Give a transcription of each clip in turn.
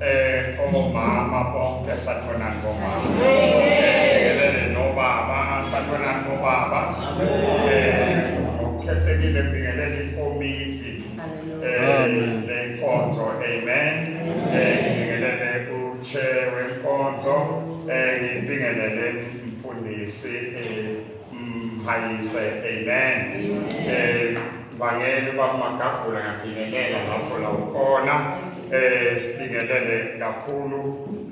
Eh omama bonke sakhona ngomama. Ngelele nobaba sakhona ngobaba. Eh ukhethekile bingelele ikomiti. Eh lenkonzo amen. Eh bingelele uche wenkonzo. Eh ngibingelele mfundisi eh mhayise amen. Eh Ngibangele uba uMagagula ngiyabingelela lapho la ukhona eh sibingelele kakhulu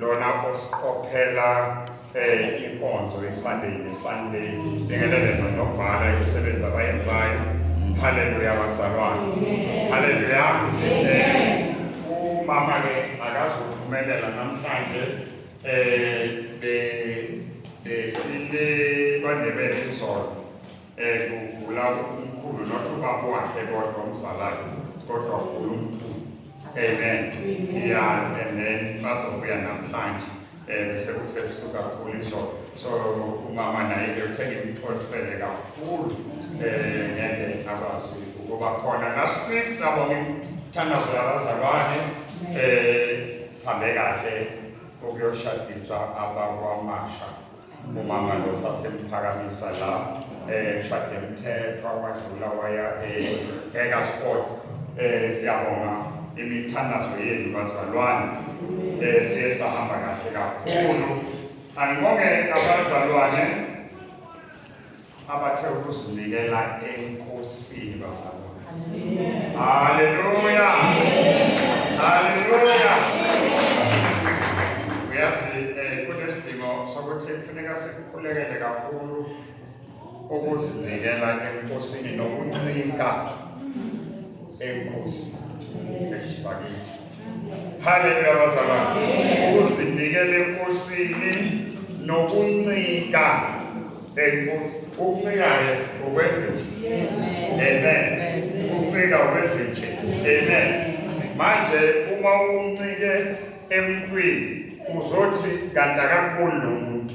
lona osiqophela eh inkonzo iSunday neSunday bingelele nonobhala imisebenzi abayenzayo haleluya bazalwane haleluya eh umama ke akazophumelela namhlanje eh be besile bandebele izolo um kugula umkhulu not ubaba wakhe kodwa umzalayo kodwa ugula umkhulu amen ya and then bazobuya namhlanje um bese kusebusuku kakhulu izolo so umama naye ke uthe ngimxolisele kakhulu um ngeke akwazi ukuba khona last week sabonga imthandazo yabazalwane um eh, sihambe kahle ukuyoshadisa abakwamasha umama lo sasemuphakamisa la eh shade mthethwa wadlula waya eka eh, sport eh siyabonga imithandazo yenu bazalwane eh siye sahamba kahle kakhulu angibonge abazalwane abathe ukuzinikela enkosini bazalwane haleluya haleluya uyazi um eh, kunesidingo sokuthi kufuneka sikukhulekele kakhulu ukuzinikela enkosini nokuncika enkosini esibakithi Haleluya bazalwane. Ukuzinikela enkosini nokuncika enkosi. Ukuncikaye ukwenze nje. Amen. Ukuncika ukwenze nje. Amen. Manje uma uncike emntwini uzothi kanti akankulu lo muntu.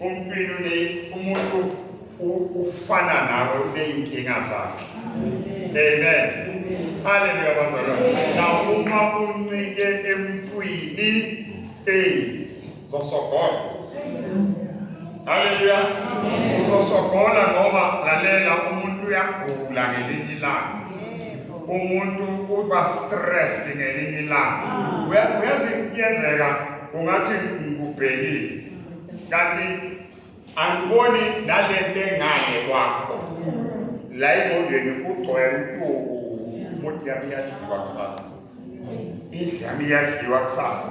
Umpilo ne umuntu ufana nawe uneyinkinga zakhe. Amen. Haleluya bazalwane. Na uma uncike emntwini hey zosogola. Haleluya. Uzosogola ngoba lalela umuntu uyagula ngelinye ilanga. Umuntu uba stressed ngelinye ilanga. Uyazi kuyenzeka ungathi ngikubhekile kanti angiboni nale nto engale kwakho la ingqondweni kugcwele intuku umuntu yami iyadliwa kusasa indlu yami iyadliwa kusasa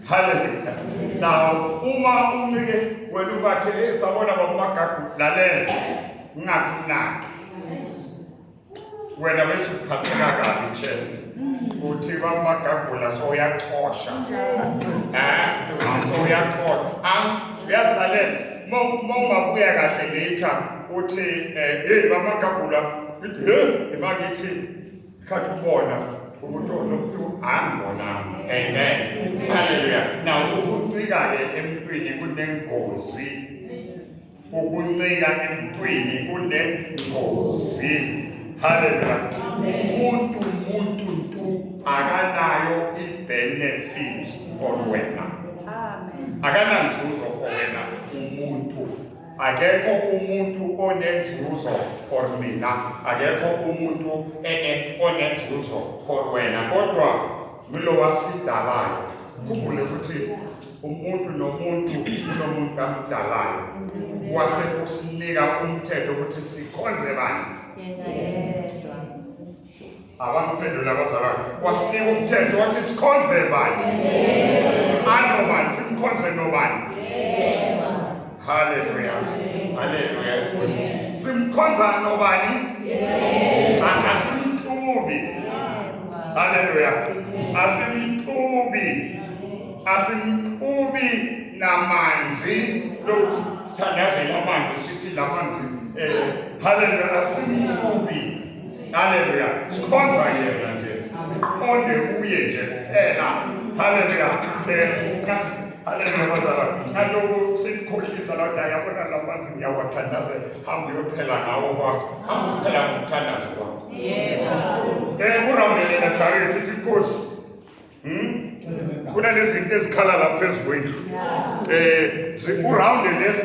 haleluya nawo uma uncike wena ubathe esabona babumagagu lalela ngingakunaki wena bese uphatheka kabi nje uthi bamagagula soyaqhosha eh soyaqhosha ang uyazilalela mongabuya kahle later uthi eh hey bamagagula hey ibakithi khathi ubona umuntu onomuntu angona amen haleluya now ukucika ke emntwini kunengozi ukuncika emntwini kunengozi haleluya umuntu umuntu ntu akanayo ibenefit for wena akananzuzo for wena umuntu akekho umuntu onenzuzo for mina akekho umuntu onenzuzo for wena kodwa ngulowasidalayo khumbule ukuthi umuntu nomuntu unomuntu amdalayo wase usinika umthetho ukuthi sikhonze bani abangiphendula abazalwane wasinika umthetho wathi sikhonze bani anobani simkhonze nobani haleluya haleluya simkhonza nobani asimxubi haleluya asimxubi asimqubi namanzi lokusithandazela amanzi sithi la manzi um haleluya asimqubi haleluya sikhonza yena nje onde kuye nje kuphela haleluya um Haleluya bazalwane. Ngalokhu sikukhohlisa la ukuthi ayabona la manzi ngiyawathandazela. Hamba uyochela ngawo kwakho. Hamba uchela ngomthandazo kwakho. Yebo. Eh kurambelela jare ukuthi inkosi Hmm? Kuna nezinto ezikhala la phezu kwendlu. Eh, zikurhawunde lezi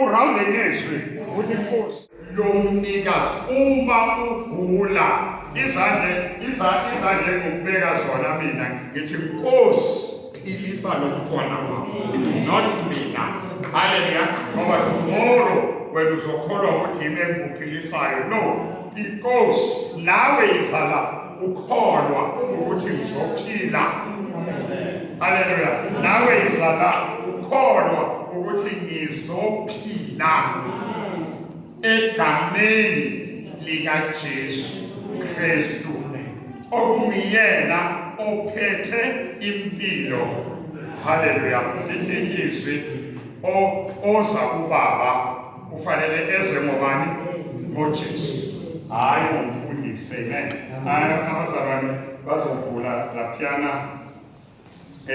urhawunde ngezwi ukuthi inkosi yomnikazi uma ugula izandle izandle izandle ngokubeka zona mina ngithi inkosi philisa lokukhona kwakho not mina haleluya ngoba tomorrow wena uzokholwa ukuthi yimi engikuphilisayo no inkosi nawe izala ukholwa ukuthi ngizophila haleluya nawe izala ukholwa ukuthi ngizophila egameni likaJesu Kristu okungiyena ophethe impilo haleluya ndithi izwi oza kubaba ufanele ezwe ngobani ngojesu hhayi ngomfundisi amen abazalwane bazovula laphiyana Uh,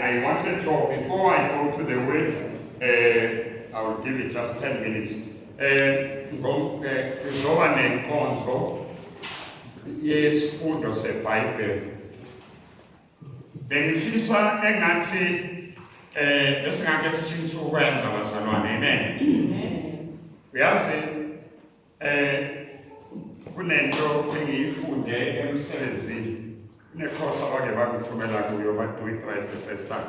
I wanted to, before I go to the word, uh, I will give it just 10 minutes. Eh, sizoba nenkonzo yesifundo sebhayibheli bengifisa engathi eh esingake sishintshe ukwenza bazalwane amen uyazi eh kunento engiyifunde emsebenzini ne-course abake bangithumela kuyo badoing right the first time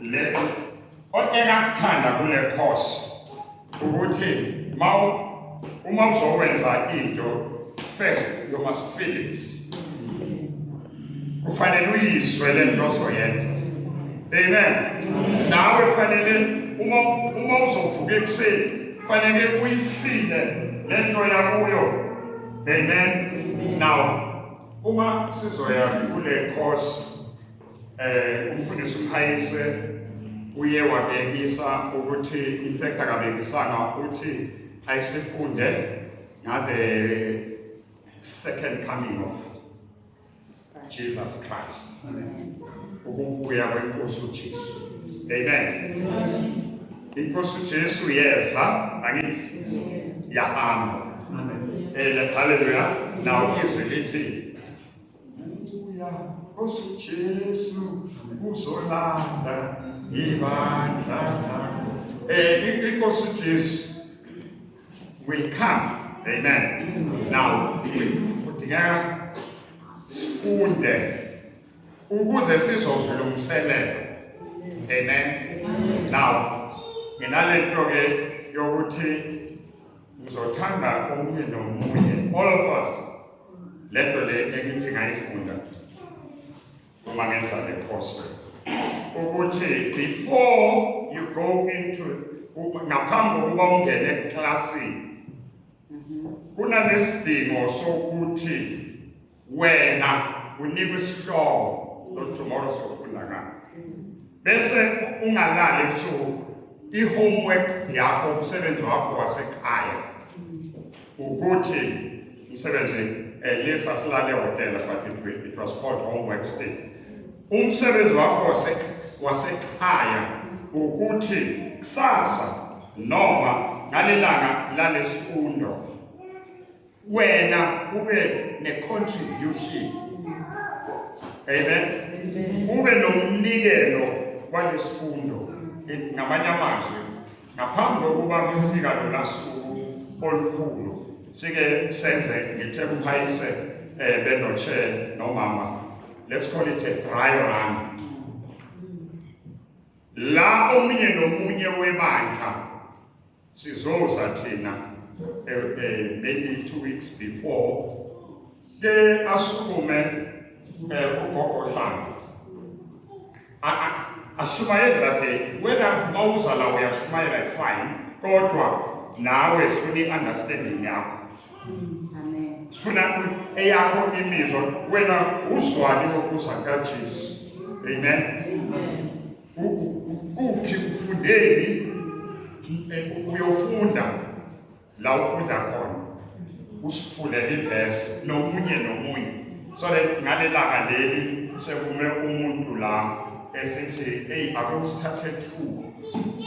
le otenakuthanda kule course ukuthi ma uma uzokwenza into first you must feel it kufanele uyizwe le nto ozoyenza amen nawe kufanele uma uma uzovuka ekuseni kufanele uyifile le nto yakuyo amen now uma sizoya kule course eh umfundisi uMhayise uye wabekisa ukuthi in fact akabekisanga ukuthi ayisifunde ngabe second coming of Jesus Christ ukubuya kwenkosi uJesu amen inkosi uJesu yeza angithi yahamba amen eh, haleluya now izwi lithi Ubuya osuJesu uzolanda ibandla lakho. Eh inkosi uJesu will come. Amen. Now, kudingeka sifunde ukuze sizozwa lo mselelo. Amen. Now, nginalento ke yokuthi Ngizothanda omunye nomunye all of us le nto le engithi ngayifunda uma ngenza le post ukuthi before you go into ngaphambi kokuba ungene eklasini kunanesidingo sokuthi wena unikwe isihloko lo tomorrow sofunda ngani bese ungalali ebusuku i-homework yakho umsebenzi wakho wasekhaya ukuthi umsebenzi eh, lesa silale hotela but it, it was called homework stay umsebenzi wakho wasekhaya ukuthi kusasa noma ngalelanga lalesifundo wena ube ne-contribution amen ube nomnikelo walesifundo ngamanye amazwi ngaphambi kokuba kufika lola suku olukhulu sike senze ngithe kuphayise um eh, benotshe nomama let's call it a dry run la omunye nomunye webandla sizoza thina eh, eh, maybe two weeks before ke asukume eh, ugogo Dlanga ashumayele that day whether mawuza la uyashumayela fine kodwa nawe sifuna i-understanding yakho sifuna eyakho imizwa wena uzwani ngokuza kajesu amen Kuphi ufundeni uyofunda la ufunda khona usifundele ivesi nomunye nomunye so that ngalelanga leli sekume umuntu la esithi eyi ake usithathe two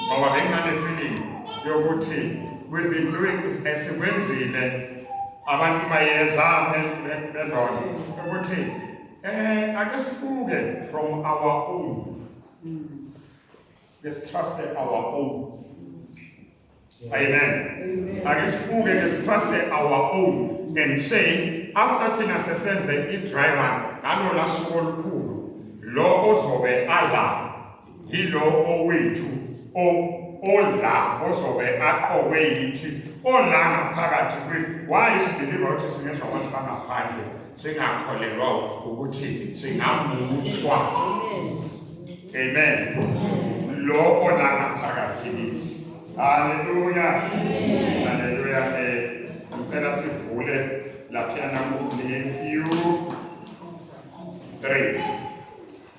ngoba bengane feeling yokuthi we've been doing esikwenzile abantu bayeza bendona ukuthi Eh ake sibuke from our own. Let's trust our own. Amen. Ake sibuke let's trust our own and say after thina sesenze i-dry run ngalo lasuku olukhulu lo ozobe ala Yilo owethu ola ozobe aqokwe yithi ola ngaphakathi kwi why is believer ukuthi singezwa abantu bangaphandle singakholelwa ukuthi singamuswa amen lo ola ngaphakathi kithi haleluya haleluya eh ngicela sivule laphana ku Matthew 3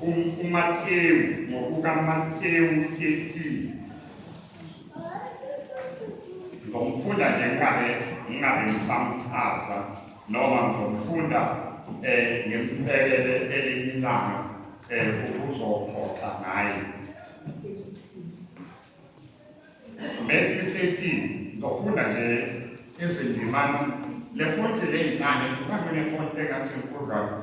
uMathewu ngokukaMathewu 13 ngizomfunda nje ngingabe ngingabe ngisamchaza noma ngizomfunda um eh, ngimbekele elinye ilanga um eh, ukuzoxoxa ngaye Matthew 13 ngizofunda nje izindimana le fonti le yincane kukhangele fonti engathi inkulu kakhulu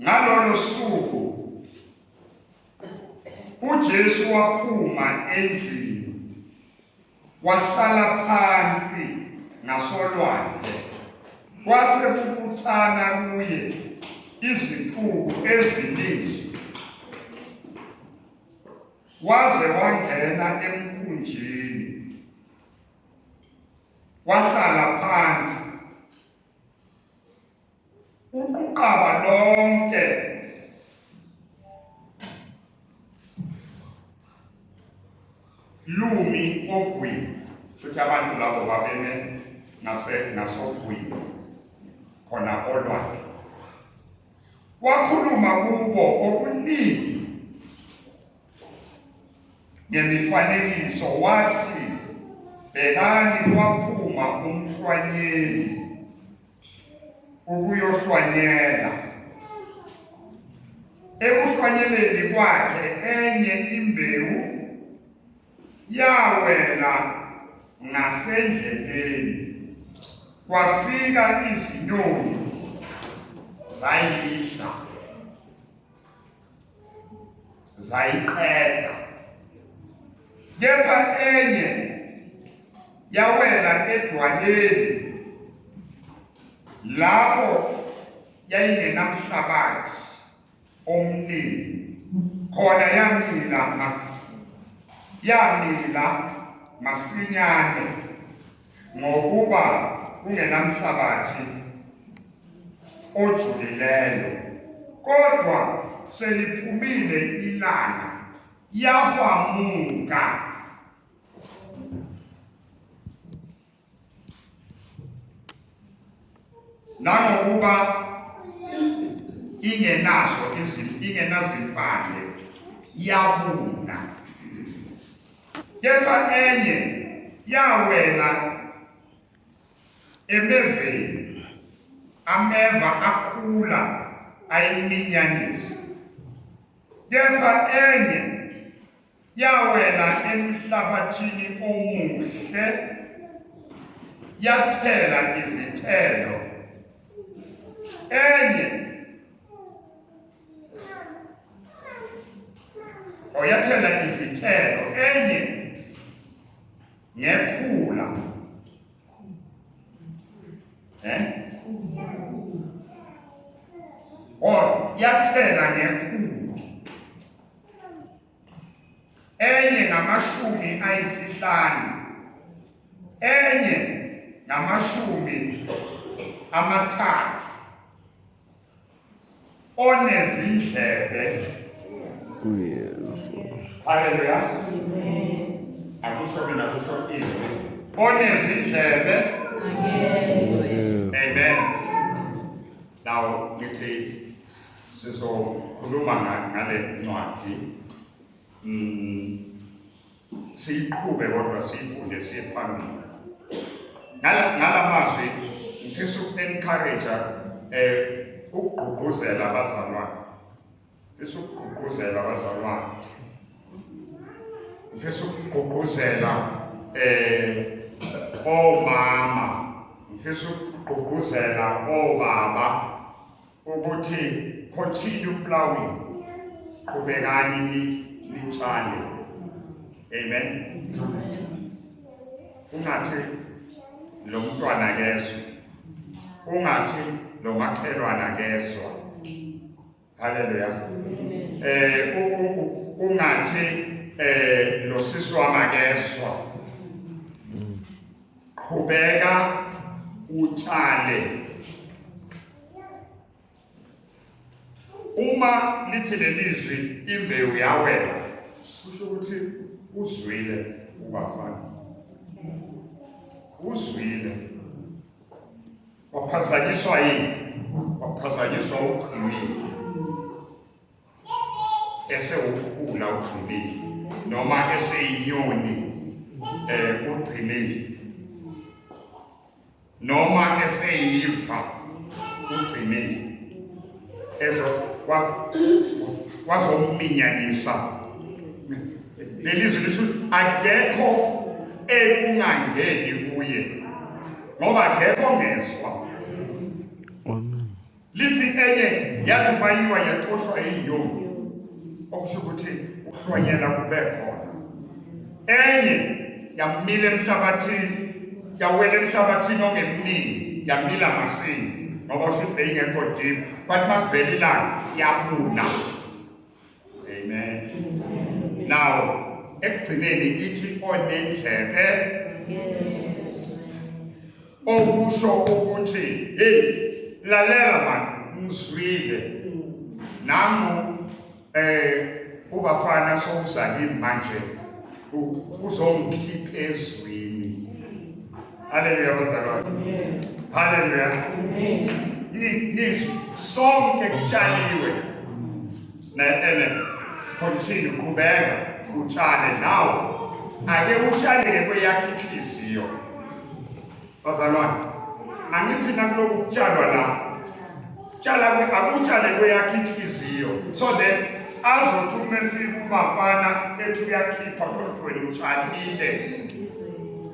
Ngalolo suku uJesu waphuma endlini wahlala phansi ngasolwandle kwase kubuthana kuye iziqubu eziningi waze wangena emkhunjini wahlala phansi Uquqaba lonke lumi ogwini shuthi abantu labo babeme ngase ngasogwini khona olwandle wakhuluma kubo okuningi ngemifanekiso wathi bhekani kwaphuma umhlwanyeli ukuyohlwanyela ekuhlwanyeleni kwakhe enye imbewu yawela ngasendleleni kwafika izinyoni zayidla zayiqeda kepha enye yawela edwaleni lapho yayingenamhlabathi omningi khona yamila mas yamila masinyane Ngokuba kungenamhlabathi ojulileyo, kodwa seliphumile ilanga yahwamuka. Nangokuba ingenazo izinto ingenazimpande yabuna kepha enye yawela emeveni ameva akhula ayiminyanisa kepha enye yawela emhlabathini omuhle yathela izithelo enye oyathela izithelo enye ngekhula eh or yathela ngekhulu enye ngamashumi ayisihlanu enye ngamashumi amathathu onezindlebe uyesu haleluya akusho mina kusho izwi onezindlebe amen now ngithi sizokhuluma ngale ncwadi mm, siyiqhube kodwa siyifunde siye phambili ngala mazwi ngifisa uku-encourage-a um ukugqugquzela abazalwane ngifisa ukugqugquzela abazalwane ngifisa ukugqugquzela um omama ngifisa ukugqugquzela obaba ukuthi continue plowing qhubekani ni nitshale amen ungathi lo mntwana kezwe ungathi lo makhelwana kezwa haleluya eh ungathi eh lo sisi wama kezwa qhubeka utshale uma lithi lelizwi imbewu yawela kusho ukuthi uzwile ubafana uzwile waphazanyiswa yini waphazanyiswa ugcinile esewuphula ugcinile noma eseyinyoni eh ugcinile noma eseyiva ugcinile ezo wazominyanisa lelizwi lisho akekho ekungangeni kuye ngoba akekho ngezwa Lithi enye yathi mayiwa yaqoshwa inyoni, okusho ukuthi ukuhlonyela kube khona. Enye yamila emhlabathini, yawela emhlabathini ongemningi, yamila masini ngoba usho ukuthi beyingekho deep, kwathi makuvela ilanga yabuna. amen now ekugcineni ithi onendlebe okusho ukuthi hey lalela mani ngizwile nami eh ubafana sokuzalile manje uzongikhipha ezwini Haleluya bazalwane. Haleluya. Amen. Ni ni sonke kutshaliwe. Na ene continue kubeka utshale nawo. Ake utshaleke kweyakhe inhliziyo. Bazalwane. Angithi nakuloku kutshalwa la. Tshala akutshale kweyakhe inhliziyo. So then azothi uma efika umafana ethi uyakhipha kodwa wena utshalile.